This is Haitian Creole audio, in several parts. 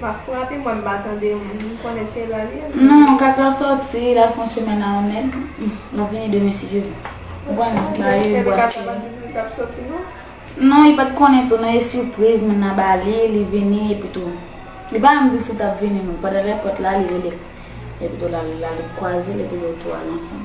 Map frape mwen m pa tande m konnen se la li ye. Non Katia soti la pran chemen nan yon nèg lap vini demen si Dye vle. Ou konn la yo bwa Katia pat di li tap soti non. Non li pat konnen tou nan e sipriz moun nan ba li li vini epi tou li pa menm dil si tap vini non pandan lè pòt la li rele epi tou lal kwazel epi yo tou al ansanm.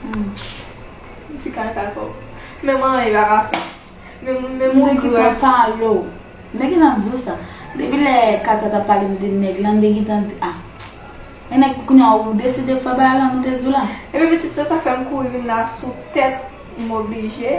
Humm ti kaka trop Men mwen anyen pa ka fè Men moun men moun ki pran palo Nèg ki nan di w sa Depi lè Katia tap pale m de nèg lan m te gintan di ah Gen nèg pou kounya ou deside fè bagay lan m te di w la. Epi pitit se sak fèm kouri vin la sou tèt m oblije.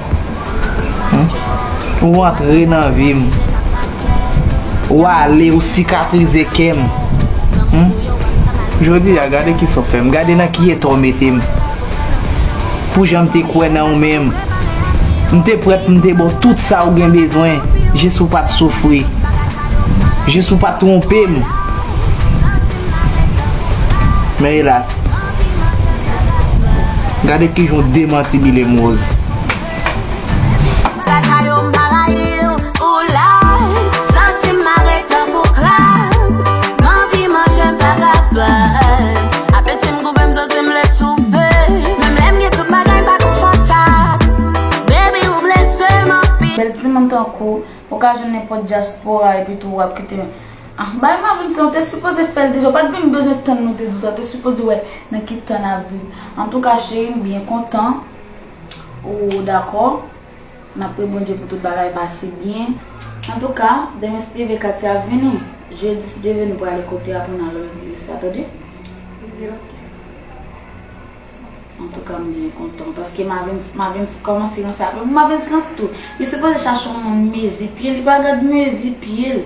Ou antre nan vi m Ou ale ou sikatrize kè m Jodi a gade kisa w fè m Gade nan ki eta w mete m Pou jan m te kwè nan ou men M te prèt pou m te ba w tout sa ou gen bezwen Jis pou w pa t soufri Jis pou w pa t twonpe m Men elas Gade kijan w demantibile m Rose. Bèl timoun tankou ou ka jwenn nenpòt dyaspora epitou wap kite Ah bay mamoun sa ou te sipoze fèl deja ou pat vin bezwen tann nou te di w sa ou te sipoze wè nan ki tan nap viv antouka cheri m byen kontan ou dakò nap pri Bondye pou tout bagay pase byen antouka demen si Dye vle Katia ap vini jedi si Dye vle nou prale kote a pou nal lòl eglise la tande Li ok antouka m byen kontan paske mavens mavens kòmanse ranse ak mwen pou mavens ranse tou li sipoze chache yon moun mezi pye li pa gad mezi pyel.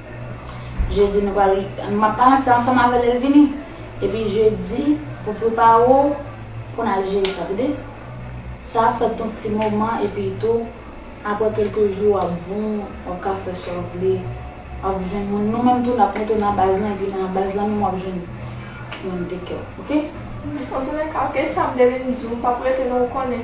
Jedi nou pral m ap ranse ansanm avè l lè l vini. Epi jedi pou prepare w pou n al jere sa tande. Sa ap fèt ton ti moman epi tou aprè kèlke jou w ap bon w ap ka fè sa w vle. W ap jwenn moun nou menm tou n ap mete w nan baz lan epi nan baz lan menm w ap jwenn moun te kè w ok. Antounèka ok Sam depi m di w m p ap rete non ou konnen.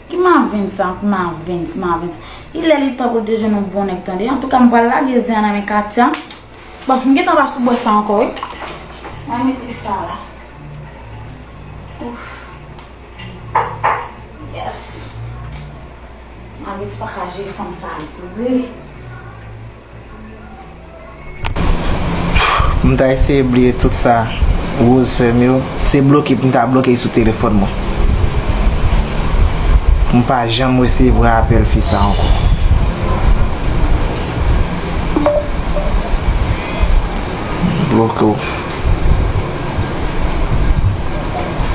Ki marvens sa ank marvens marvens li lè li tan poul te jwenn yon bon nèg tande antouka m pral lage zen an nan men katia bon m gentan pa sou bò sa ankò wi mwen mete sa la ouff yes marvens paka jwe fanm sa vre. M ta eseye bliye tout sa Rose fè m yo, se bloke m ta bloke l sou telefòn mwen. M pa janm resevwa apèl fi sa ankò. Bloke w.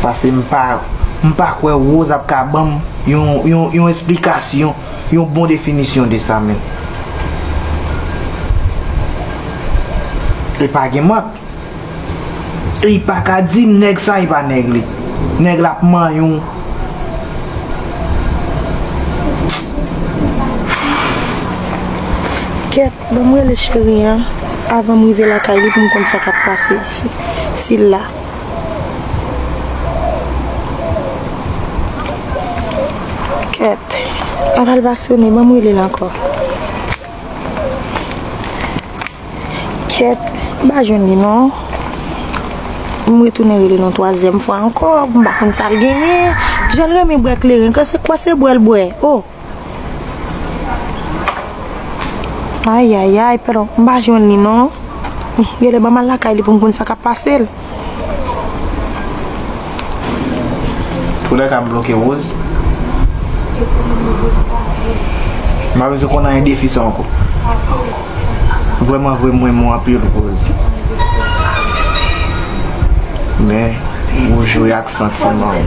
Pase m pa kwè Rose ap ka ban m yon esplikasyon. yon bon definisyon de sa menm. Li pa gen mank. E li pa ka di nèg sa e pa nèg li. Nèg la ap manyen w. Kèt, banm rele cheri an avanm rive lakay li poum konn sa kap pase ici. Sil la. Kèt, apal pa sone, banm relel ankò. Kèt, m pa jwenn li non. M retounen relel yon twazyèm fwa ankò, m pa konn sal genyen. Jan l renmen bwè kleren, kase kwa se bwè l bwè. O! Ayayay pero m pa jwenn li non Gèlè banm al lakay li pou m konn sa kap pase l. Pou lè sa m bloke Rose. M pa bezwen konn anyen defi sa ankò. Vrèman vre m renmen w anpil Rose. Men ou jwe ak santiman m.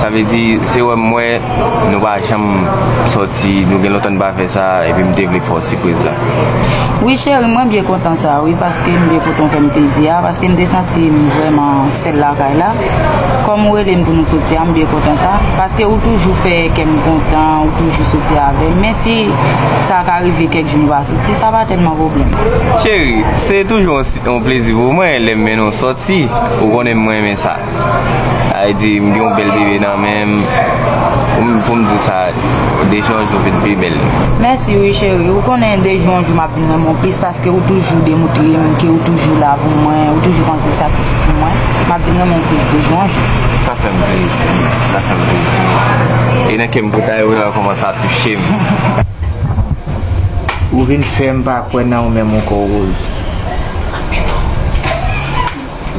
Sa vle di se wè m wè nou pa janm sòti nou gen lontan nou pa fè sa epi m te vle fè w sipriz la. Wi cheri mwen byen kontan sa wi paske m byen kontan ou fè m plezi a paske m te santi m vrèman sèl lakay la kòm ou rele m pou nou sòti a m byen kontan sa paske ou toujou fè kè m kontan ou toujou sòti avè m men si sa ka rive kèk jou nou pa sòti sa pa tèlman pwoblèm. Cheri se toujou yon plezi pou mwen lè m mennen w sòti ou konnen m renmen sa. Sa vle di m gen yon bèl bebe nan menm pou m di sa de jou an jou vin pi bèl. Mèsi wi cheri, ou konnen de jou an jou map vin renmen w plis paske ou toujou demoutre m ke ou toujou la pou mwen, ou toujou panse sakrifis pou mwen, map vin renmen w plis de jou an jou. Sa fè m plezi, sa fè m plezi e nan kè m kou ta yo nan kòman sa touche m. Ou vin fè m pa kwè nan ou menm ankò Rose.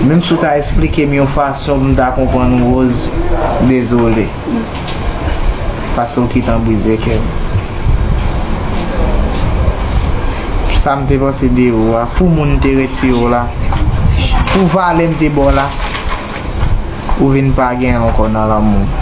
Menm si w ta esplike m yon fason pou m ta konprann ou Rose, dezole. Pase w kitan brize kè m. Sa m te panse de ou a, pou moun m te retire w la, pou valè m te ba w la, ou vin pa gen ankò nan lanmou m.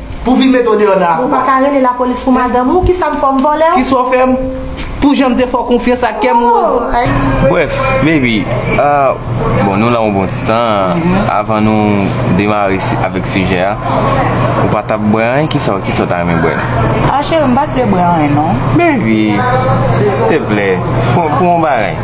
Pou vin met ou deyò nan akwa. Ou pa ka rele lapolis pou madanm ou? Kisa m fè w? M vòlè w? Kisa w fè m? Pou jan m te fè w konfyans ak kè m woz? Brèf, baby, bon nou la yon bon ti tan, avan nou demare avèk sijè a, ou pa t ap bwè anyen? Kisa w ta renmen bwè? Ah cheri, m pa t vle bwè anyen non. Baby, silteplè, pou yon bagay.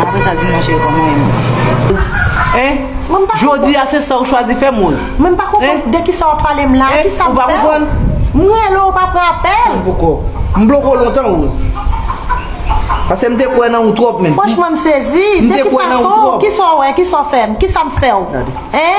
Apre sa di m nan cheri pa m mwen renmen w. Hein? Jodi a se sa ou chwazi fè m Rose? Hein? Mwen pa konprann de ki sa w ap pale m la. Hein? Ou pa konprann? M rele w ou pa pran apèl. Poko. M bloke w lontan Rose. Pase m te kwè nan ou twòp menm. Franchman m sezi. M te kwè nan ou twòp. De ki fason? Ki sa w wè? Ki sa w fè m? Ki sa m fè w? Gade. Hein?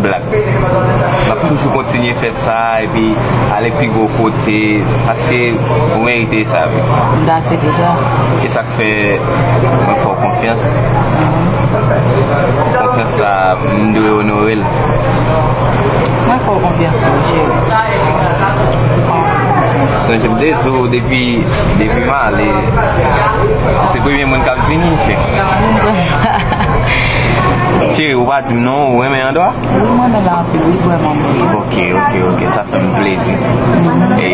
Black map toujou kontinye fè sa epi ale pi gwo kote paske ou merite sa wi. M dase de sa. E sak fè mwen fè w konfyans. Konfyans sa m dwe onore l. Mwen fè w konfyans tou cheri. Sonje m te di w depi m ale ou se premye moun kap vini cheri. Cheri ou pa di. Non ou renmen andwa? Wi mwen renmen l anpil li vrè man bon. Ok ok ok sa fè m plezi. E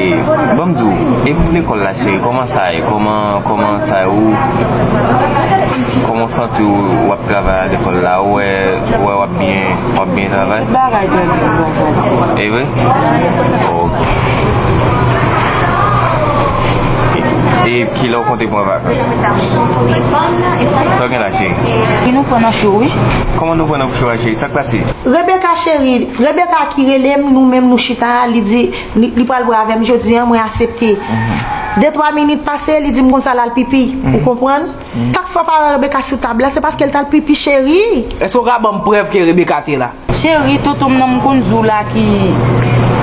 banm di w e pou lekòl la cheri kòman sa ye kòman kòman sa ye ou kòman w santi w w ap travay a lekòl la ou wè ou wè w ap byen w ap byen travay? Tout bagay byen pou mwen bon janti. E vre? Ok. E kilè w konte pran vakans? Sa w gen la? Wi nou pran nan cho wi. Koman nou pran nan cho a cheri sak pase. Rebecca cheri Rebecca ki relem nou menm nou chita a li di li pral bwe avèm jodi an mwen asepte de twa minit pase li dim konsa lal pipi ou konprann kat fwa paran Rebecca sou tab la se paskel tal pipi cheri. Eske ou ka banm prèv ke Rebecca te la. Cheri tontonm nan m konn di w la ki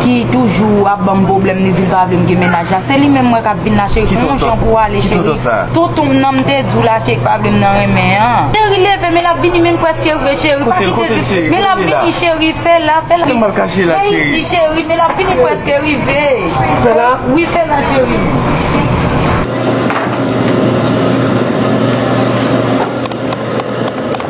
ki toujou ap banm pwoblèm li di l pa vle m gen mennaj la se li menm m wè k ap vin la cheri fè yon jan pou w ale cheri tontonm nan m te di w la cheri k pa vle m nan renmen an cheri leve men l ap vini men m prèske rive cheri pa kite di m men l ap vini cheri fè la fè la vin isi cheri men l ap vini m prèske rive fè la wi fè la cheri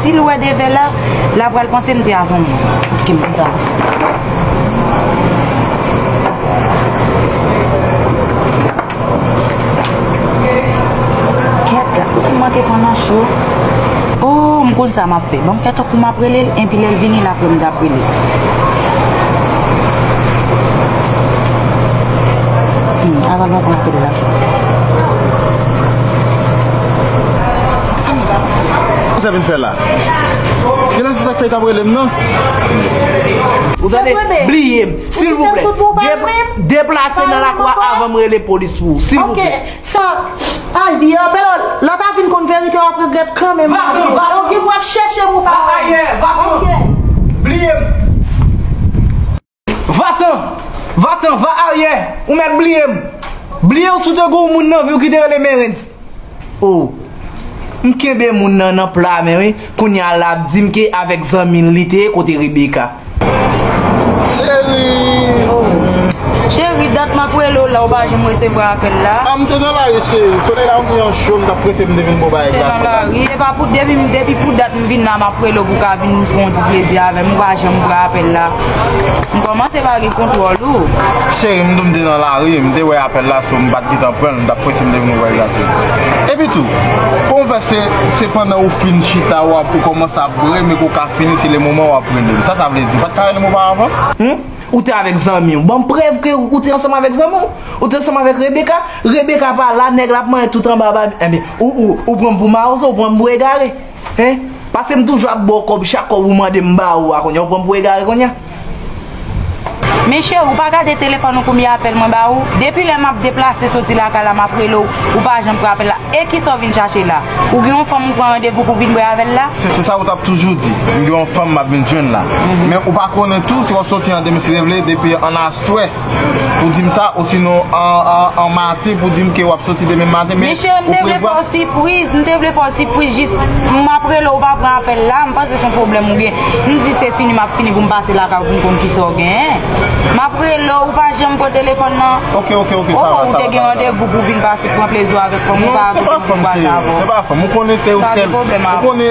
Si l wè Dave la, l apral panse m te avan moun. Ki moun sa a? Kèt la, ou koumanke pran nan cho. O, m konn sa m ap fè. Ban m fè tankou m ap rele l, enpi lè l vini la apre m tap rele l. Hum, avan l antre nan apèl la. Kisa vin fè la? Genlè se sak fè li tap relem nan? Ou tande? Bliyem silvouplè deplase nan lakou a avanm rele polis pou ou silvouplè. Ok sa Al di an Pero lè ta vin konn verite wap regrèt kanmenm Va t'en va t'en Ok pou wap chèchem ou pa wèm Ok bliyem. Va tan! Va tan! Va aryè! Ou mèt bliye m! Bliye w si w te gen yon moun nan vi w ki te rele Merens! O! M kenbe moun nan nan pla men wi, kounye a la ap di m ke avèk zanmi l li te ye kote Rebecca. Cherie! O! Cherie, dat m ap rele w la ou pa janm resevwa apèl la? A! M te nan lari cherie, solèy la anvi an cho m t ap prese m te vin bo w bagay glason la. M te nan lari, e pa pou depi pou dat m vin la m ap rele w pou w ka vin pran yon ti plezi avè m ou pa janm pran apèl la. M kòmanse pa gen kontwòl ou. Cheri m tou m te nan lari, m te wè apèl la sou, m pa t gentan pran l, m t ap prese m te vin ouvè glasye m. Epi tou, pou m fè se, se pandan ou fin chita ou ap, ou kòmanse ap bre men ke w ka fini se le moman w ap rele m. Sa sa vle di? Ou pa t ka rele m oparavan? Hum? Ou te avèk zanmi w. Ban m prèv ke ou te ansanm avèk zanmi w. Ou te ansanm avèk Rebecca. Rebecca pa la, nèg la ap manyen tout anba babi. Enben, ou, ou, ou pran m pou mawozo, ou pran m pou egare. Hein Paske m toujou ap ba w kòb chak kòb ou mande m ba ou a kounya ou pran m pou egare kounya. Men cheri ou pa gade telefòn ou konbyen apèl mwen ba ou? Depi lè map deplase soti lakay la map rele w ou pa janm pran apèl la e kisa w vin chache la? Ou gen yon fanm ou pran randevou pou w vin bri avèl la? Se sa ou tap toujou di, m gen yon fanm map vin jwenn la. Men ou pa konnen tou se wap soti an demen si Dieu vle depi an aswè. Pou dim sa osinon an maten pou dim ke wap soti demen maten men ou prevwa. Misye m te vle fè w sipriz, m te vle fè w sipriz jis m ap rele ou pa pran apèl la, m panse son pwoblèm ou gen. M di se fini m ap fini pou m pase lakay ou pou m konn kisa w genyen. M ap rele w ou pa janm pran telefòn nan. Ok ok ok sa va sa va. Ou te gen randevou pou vin pase pran plezi w avèk fanm ou pa avèk fanm ou pa sa avè w. Non se pa fanm se yo, se pa fanm ou konnen se yo sèl. Sa se pwoblèm avè w.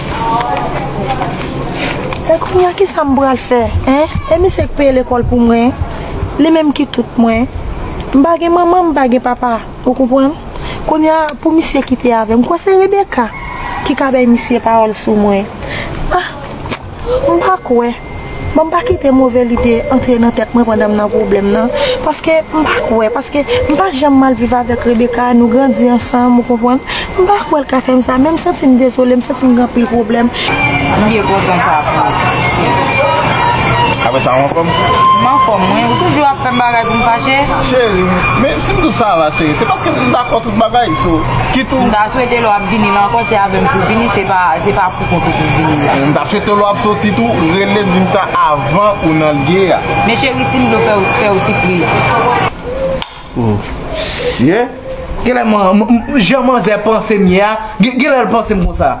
E kounya kisa m pral fè hein e misye k peye lekòl pou mwen li menm ki tout mwen m pa gen manman m pa gen papa ou konprann kounya pou misye kite avè m kwè se Rebecca ki ka bay misye pawòl sou mwen ah m pa kwè. Bon m pa kite move lide antre nan tèt mwen pandan m nan pwoblèm nan paske m pa kwè paske m pa janm mal viv avèk Rebecca nou grandi ansanm ou konprann m pa kwè l ka fè m sa men m santi m dezole m santi m gen anpil pwoblèm. Kote pou vini la. M ta swete lè wap soti tou relem dim sa avan ou nan lge a. Men cheri sim blo fèw fèw sipriz. Oh shit Genlè jan manzè pansem ye a genlèl pansem konsa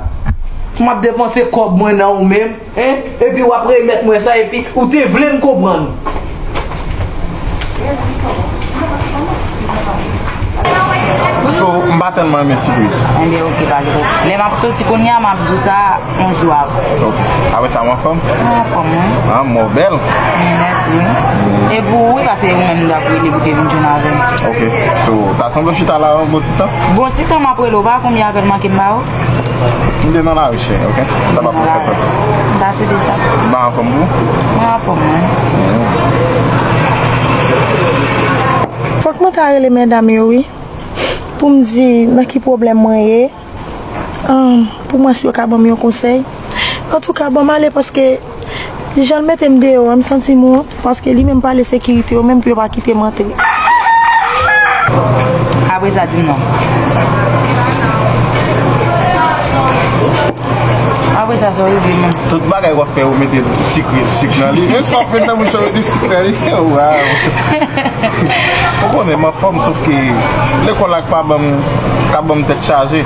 Map depanse kòb mwen nan ou menm hein epi wap remèt mwen sa epi ou te vlem konprann. So m pa tèlman renmen sipriz. Enben ok pa gen pwoblèm. Lè m ap soti kounye a m ap di w sa yon jou apre. Ok. Apre sa ou anfòm? Mwen anfòm wi. An mò w bèl. Mwen mèsi wi. E pou ou wi pase ou menm m ap rele pou te vin jwenn avè m. Ok. So ta sanble w chita la yon bon ti tan? Bon ti tan m ap rele w. Ou pa konn m y avè l manke m ba ou? Mwen te nan lari cheri ok. Sa pa pral fèt ok. M pa sou de sa. Ou pa anfom tou? Mwen anfom mwen. Fok mwen ta rele medam yo wi. Pou m di nan ki pwoblèm mwen ye. An pou mwen si yo ka banm yon konsèy. Antouka banm ale paske. Jan l mete m deyò an m santi m wont paske li menm pale sekirite yo menm pou yo pa kite m antre. Kabrez a di m non. Kabrez a sa w regle menm? Tout bagay w ap fè ou mete sik nan li. Menm sa w fè nan bouch ou mete sik nan li. Waww. Ou konnen m anfòm sof ke lekòl la k pa ban m tèt chaje.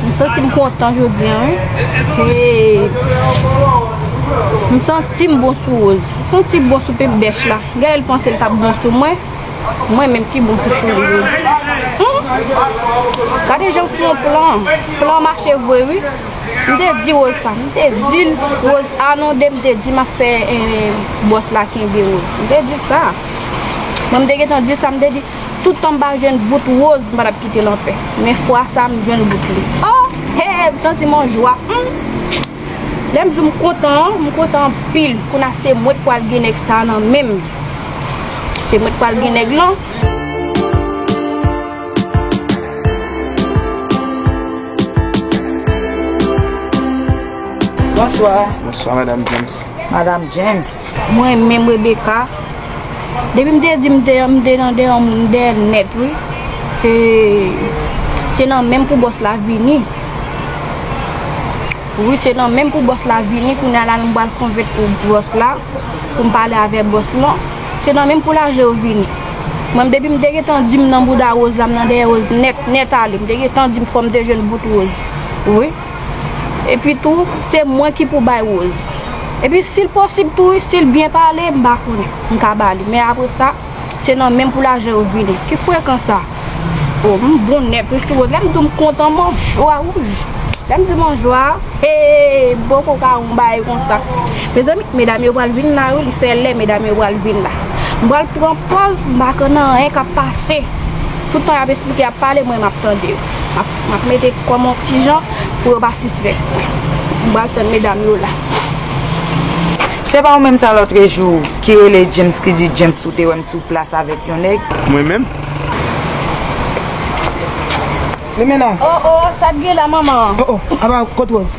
M santi m kontan jodi an wi M santi m bon sou Rose M santi m bon sou pebèch la Gaëlle panse l t ap bon sou mwen Mwen menm ki bon ki sou li menm. Humm gade janm fè yon plan. Plan mache vre wi. M te di Rose sa. M te dil Rose anonde m te di map fè boss la kenbe Rose. M te di sa. Mwen m te gentan di sa m te di tout tan m pa jwenn bout Rose m pa tap kite l anpè. Men fwa sa m jwenn bout li. Oh! Hey! M santi m an jwa humm. Lèm diw m kontan an, m kontan anpil kounye se mwen k pwal gen nèg sa nan menm. Se mwen k pwal gen nèg lan. Bonswa. Bonswa madam James. Madam James. Mwen menm Rebecca depi m te di m te an m te nan deyò moun m deyè l nèt wi e se nan menm pou bòs la vini wi se nan menm pou bòs la vini kounya la m pral konvenk pou bòs la pou m pale avè bòs lan se nan menm pou lajan yo vini mwen m depi m te gentan di m nan bouda Rose la m nan deyè Rose nèt nèt ale m te gentan di m fò m te jwenn bout Rose wi. Epi tou, se mwen ki pou bay Rose. Epi si l posib tou wi, si l byen pale, m pa konnen. M ka ba li. Men apre sa, se nan men m pou lajan yo vini. Ki frekan sa? O, m bon nèt wi sou Rose. Lè m di w m kontan, m an jwa wi. Lè m di m an jwa, hee, m po ko ka wè yon bagay konsa. Mezanmi, medam yo pral vin la wi. Li fè lè, medam yo pral vin la. M pral pran pòz m pa konnen anyen k ap pase. Toutan y ap esplike, y ap pale, mwen m ap tande yo. Map mete kòm on ti jan pou yo pa sispèk. M pral tann medam yo la. Se pa ou menm sa lotrejou ki rele James ki di James ou te wèm sou plas avèk yon nèg. Mwen menm? Limena! Oh oh, sa t gen la manman? Oh oh, apa kot Rose?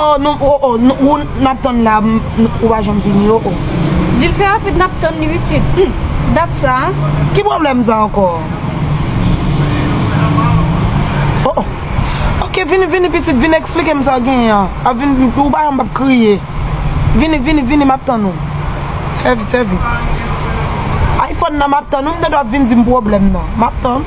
Oh nou oh oh nou ou nap tann la ou pa janm vini oh oh. Dil fè rapid nap tann li pitit humm dat sa. Ki pwoblèm sa ankò oh oh. Ok vini vini pitit vini eksplikem sa genyen an ap vini ou pa wè map kriye vini vini vini map tann ou fè vit fè vit. Iphone nan map tann ou mtande wap vin dim pwoblèm nan map tann.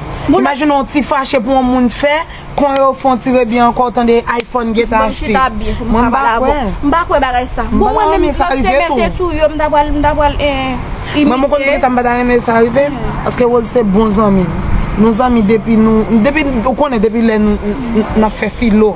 Imajine yon ti fache pou yon moun fè, kon yo fon ti redi ankò w tande iPhone gen ta achte. Mwen pa kwè. M pa kwè bagay sa. Bon mwen menm si yo te mete tou yo m ta pral m ta pral imite. Mwen konn poukisa m pa ta renmen sa rive, paske Rose se bon zanmi m. Nou zanmi depi nou depi ou konnen depi lè n ap fè filo.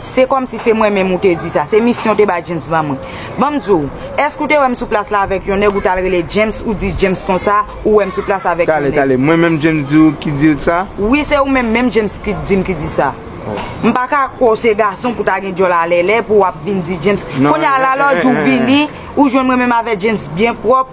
Se kòmsi se mwen menm ou te di sa. Se misyon w te bay James ban mwen. Ban m di w, èske ou te wè m sou plas la avèk yon nèg ou t al rele James ou di James konsa, ou wè m sou plas avèk yon nèg. Tale, tale. Mwen menm James di w ki di w sa? Wi, se ou menm menm James ki t di m ki di sa. M pa ka kwè w se gason pou w ta gen djòl alèlè pou w ap vin di James. Kounye a lalòdj ou vini, ou jwenn mwen menm avè James byen pwòp,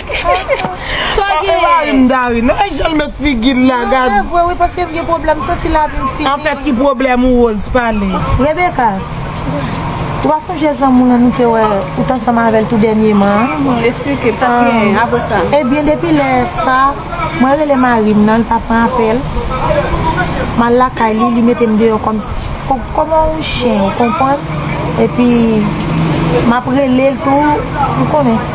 Epa marim Gary non e janl met figil la gad. Mwen vwe wi paske m gen pwoblem santi lavim fini. Anfèt ki pwoblem ou Rose pale. Rebecca ou pa sonje zanmi w lan nou te wè ou t ansanm avèl tou dènyeman an. Bon esplike m sa t genyen apre sa. Ebyen depi lè sa mwen rele marim nan li pa pran apèl m al lakay li li mete m deyò kòm kòm on chyen ou konprann epi map relel tou ou konnen.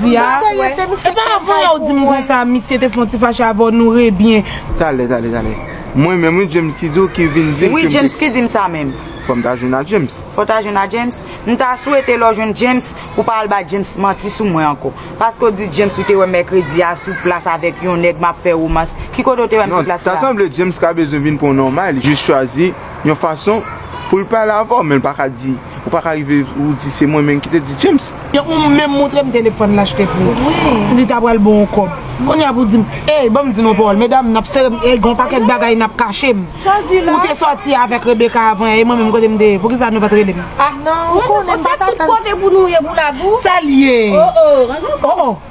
di a. E pa avan ya ou dim konsa misye te fon ti fache avè w nou re byen. Talè talè talè. Mwen menm wi James ki di w ki vin dim ke m te. Wi James ki dim sa menm. Fò m ta jwenn a James. Fò w ta jwenn a James. M ta swete lè w jwenn James ou pa al bay James manti sou mwen ankò. Paske w di James ou te wè m mèkredi a sou plas avèk yon nèg m ap fè romans. Ki kote w te wè m sou plas la? Non, ta sanble James ka bezwen vin pran w nòmal. Li jis chwazi. yon fason pou l pale avè w men l pa ka di ou pa ka rive ou di se mwen menm ki te di James. Depi ou menm montre m telefòn la achte pou ou li ta pral ba w kòb kounye a pou di m ey ban m di nou yon pawòl medam n ap sere m ey gen yon pakèt bagay n ap kache m ou te sòti avèk Rebecca avan yè e mwen menm kote m te ye poukisa nou pa t rele m. Sa l ye?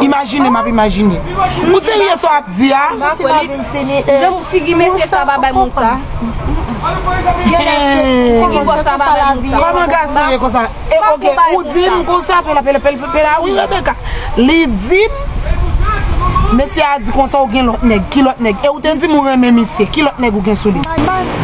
Imajine map imajine. Ou serye sa w ap di a? Mwen soti la vin m fini e. Jan figi mesye sa pa bay moun sa. Genlè se figi gòch la pa bay moun sa. Koman gason ye konsa? E ok ou di m konsa pela pela pela pela wi Rebecca. Li di m mesye a di konsa ou gen lòt nèg. Ki lòt nèg? E ou te di m ou renmen misye. Ki lòt nèg ou gen sou li?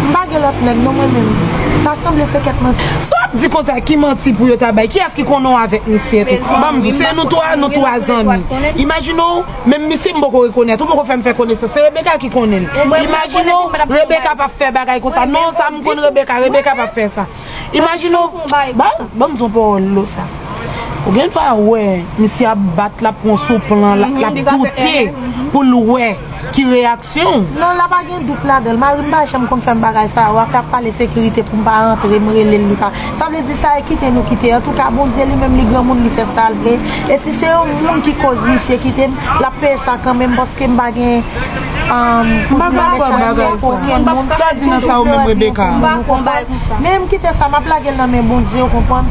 M pa gen lòt nèg non mwen menm. Ta sanble se kèt manti. Sa w ap di konsa ki manti pou yo ta bay? Kiyès ki konnen w avèk misye tou? Ban m di w, se nou twa, nou twa zanmi. Imajine w, menm misye m poko rekonèt, ou poko fè m fè konesans. Se Rebecca ki konnen l. Imajine w, Rebecca p ap fè bagay konsa. Non, sa m konn Rebecca, Rebecca p ap fè sa. Imajine w, ban m di w pawòl lou sa. Ou gen dwa wè misye ap bat, l ap pran sou plan, l ap goute pou l wè ki reyaksyon. syon. Non la pa gen dout ladanl. Marim pa janm konn fèm bagay sa yo, afè ap pale sekirite poum pa antre, m relel li pa, sa vle di sa e kite nou kite, antouka Bondye li menm li granmoun li fè sal vle, e si se yon moun ki koz misye kitem, lap peye sa kanmenm paske m pa gen pou di nan mechansete pou okenn moun, toujou vle wè byen pou moun ou konprann, men m kite sa map lagel nan men Bondye ou konprann.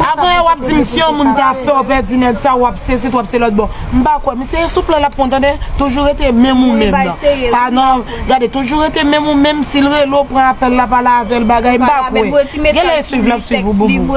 Aprè wap dim si yon moun ta fèw pèdi nèg sa wap se sit wap se lòt bon. M pa kwè misye e sou plan lap pwan tande toujou rete menm ou menm nan pa nan gade toujou rete menm ou menm sil rele w pran apèl la pale avèl bagay m pa kwè genlè e swiv lap swiv ou boubou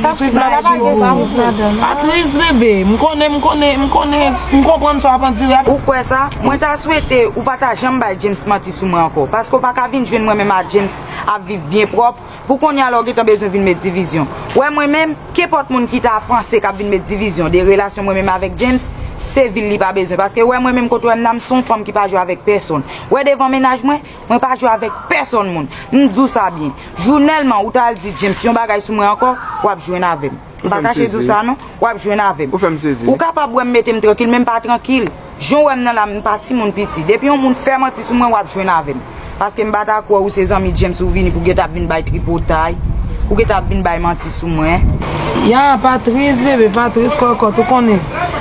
pa swiv la pa gen swiv pa tris bebe m konnen m konnen m konnen m konprann sa wap andire ou kwè sa mwen ta swete ou pa ta janm bay James manti sou mwen ankò paske w pa ka vin jwenn mwen menm a James ap viv byen pwòp. Pou konnya la w gentan bezwen vin met divizyon. Wè mwen menm, kenpòt moun ki ta panse k ap vin met divizyon de relasyon mwen menm avèk James, se vil li pa bezwen. Paske wè mwen menm kot wè m la, m se yon fanm ki pa jwe avèk pèsonn. Wè devan mennaj mwen, mwen pa jwe avèk pèsonn moun. M di w sa byen. Jou nèlman ou ta al di James yon bagay sou mwen ankò, w ap jwenn avè m. M pa kache di w sa non. W ap jwenn avè m. Ou fè m sezi. Ou kapab wè m mete m trankil men m pa trankil. Jan w wè m nan la m pa timoun piti. Depi yon moun fè manti sou mwen w ap jwenn avè m. Paske m pa ta kwè ou se zanmi James ou vini pou geta ap vin bay tripotay. Pou geta ap vin bay manti sou mwen. Ya, pa tris bebe, pa tris kòkòt. Ou konnen.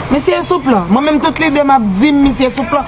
Misye sou plan. Mwen menm tout lide m ap di m misye sou plan.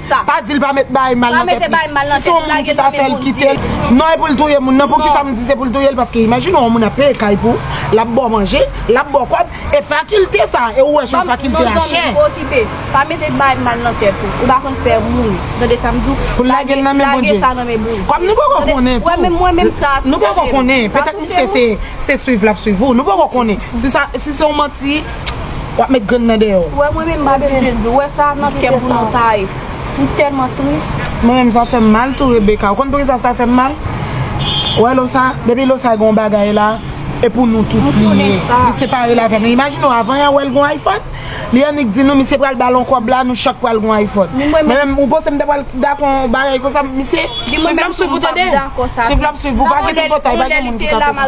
sa. Pa dil pa met bae mal nan tèt li. Si son moun ki ta fèl kitel. Non e poul touye moun nan poukisa m di se poul touyel paske imajine w yon moun ap peye kay pou ou lap baw manje lap baw kòb e fakilte sa e ou wè son fakilte a chè. Non zanmim okipe pa mete bae mal nan tèt ou ou pa konn fè moun tande sam diw Poul lagel nan men Bondye Kòm nou poko konnen tou Nou poko konnen petèt misye se swiv lap swiv ou Nou poko konnen si se yon manti Wap met grenn nan deyò. Ou wè mwen menm m pa bezwen di ou wè sa nan kèm pou nou ta ye. M tèlman tris. Mwen menm sa fèm mal tou Rebecca. Ou konn poukisa sa fèm mal? Ou wè lo sa? Depi lo sa gen yon bagay la e pou nou tout li ye. Li separe l avè nou. Imajine w avan y a wè l gen yon iPhone. Li annik di nou misye pral ba l yon kòb la nou chak pral gen yon iPhone. Mwen menm ou panse m ta pral dakò yon bagay konsa misye? Swiv la m swiv ou tande. Swiv la m swiv ou pa gen tripotay pa gen moun ki ka fè sa.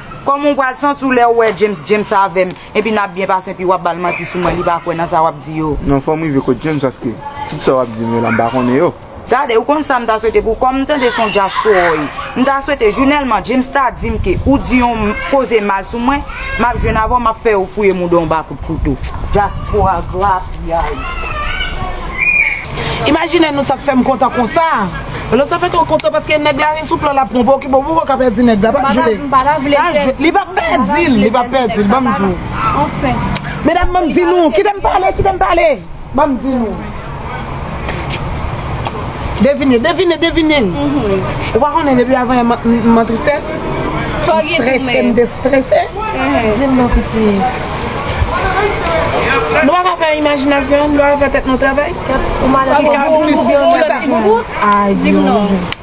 Koman w pral santi w lèw wè James James avèm epi nap byen pase epi wap bal manti sou mwen li pa kwè nan sa wap di yo. Non fòm rive kot James paske tout sa wap dim yo la m pa konnen yo. Gade ou konn sam ta swete pou kòm m tande son djaz pou oi m ta swete jounèlman James ta dim ke ou di yon koze mal sou mwen map jwenn avèw map fè yo fouye mouda w m pa Diaspora grapyay. Imajine nou sak fèm kontan konsa. Lò sa fè to kontan paske nèg la ri sou plan lap pran poki bon pouko ka pèdi nèg la pa jwe li pap pèdil li pap pèdil banm diw. Medam banm di nou kitem pale kitem pale. Ban m di nou. Devine, devine, devine! Ou pa konnen depi avan yè m an tristès? M strese, m destrese. Di m non piti. Nou pa ka fè imajinasyon nou? Nou pa ka fè tèt nou travay? Ki ka plis ki sa? Ki boubout? Di m non.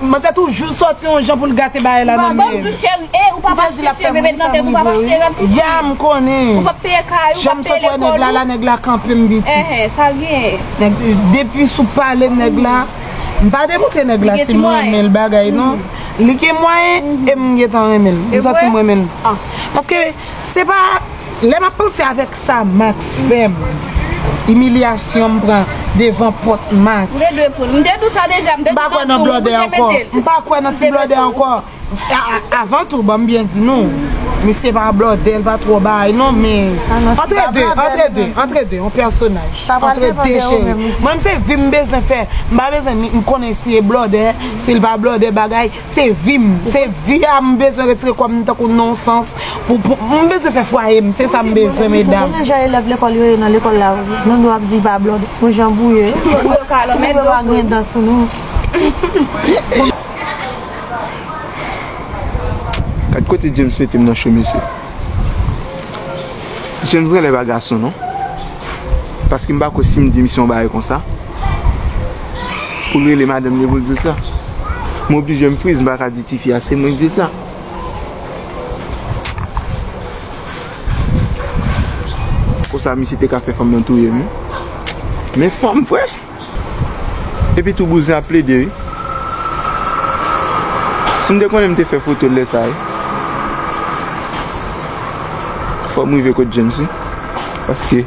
Manzè toujou sòti yon jan poul gate bagay la nan menl. Ya m konnen. Janm sot wè nèg la la nèg la kanpe m pitit. Depi sou pale nèg la m pa deboute nèg la si m renmen l bagay non. Li gen mwayen e m gentan renmen l. M santi m renmen l. Paske. Se pa Lè map panse avèk sa Max fèm Imilyasyon m pran devan pòt Max M pa kwè nan blòdè ankò M pa kwè nan ti blòdè ankò Avan tou banm byen di nou Misye pa blòdè l pa twò bay non men Antre de Antre de Antre de yon pèsonaj Antre de cheri Mwen m se vi m bezwen fè M pa bezwen ni m konnen si e blòdè Si l pa blòdè bagay Se vi m, se vi a m bezwen retire kò m tankou non sans pou m bezwen fè fwaye m, se sa m bezwen medam. Konnen jan elèv lekòl yo ye nan lekòl la wi, nou dwe ap di pa blòd pou jan bou yo ye, ti moun yo pa gen dan sou nou. Gad kote James mete m nan cho mesye. James genlè pa gason non. Paske m pa kwè si m di misye yon bagay konsa. Pou l rele madanm li pou l di l sa. M oblije m friz m pa ka di tifi a se mwen ki di l sa. Konsa misye te ka fè fanm nan touye m wi. Men fanm vre. Epi tou bouzen ap plede wi. Si m te konnen m te fè foto l lè sa wi. Fò m rive kot James wi. Paske.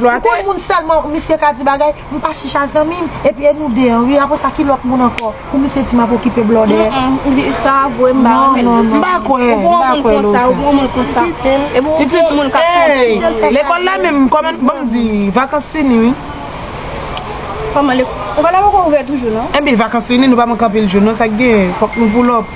Ou konn moun selman misye ka di bagay m pa chicha zanmim epi e nou 2 an wi apre sa ki lot moun anko pou misye di map okipe blòdè m pa kwè m pa kwè lou sa epi lekol la menm koman banm di vakans fini wi epi vakans fini nou pa manke anpil jou non sak gen fok nou poulòp.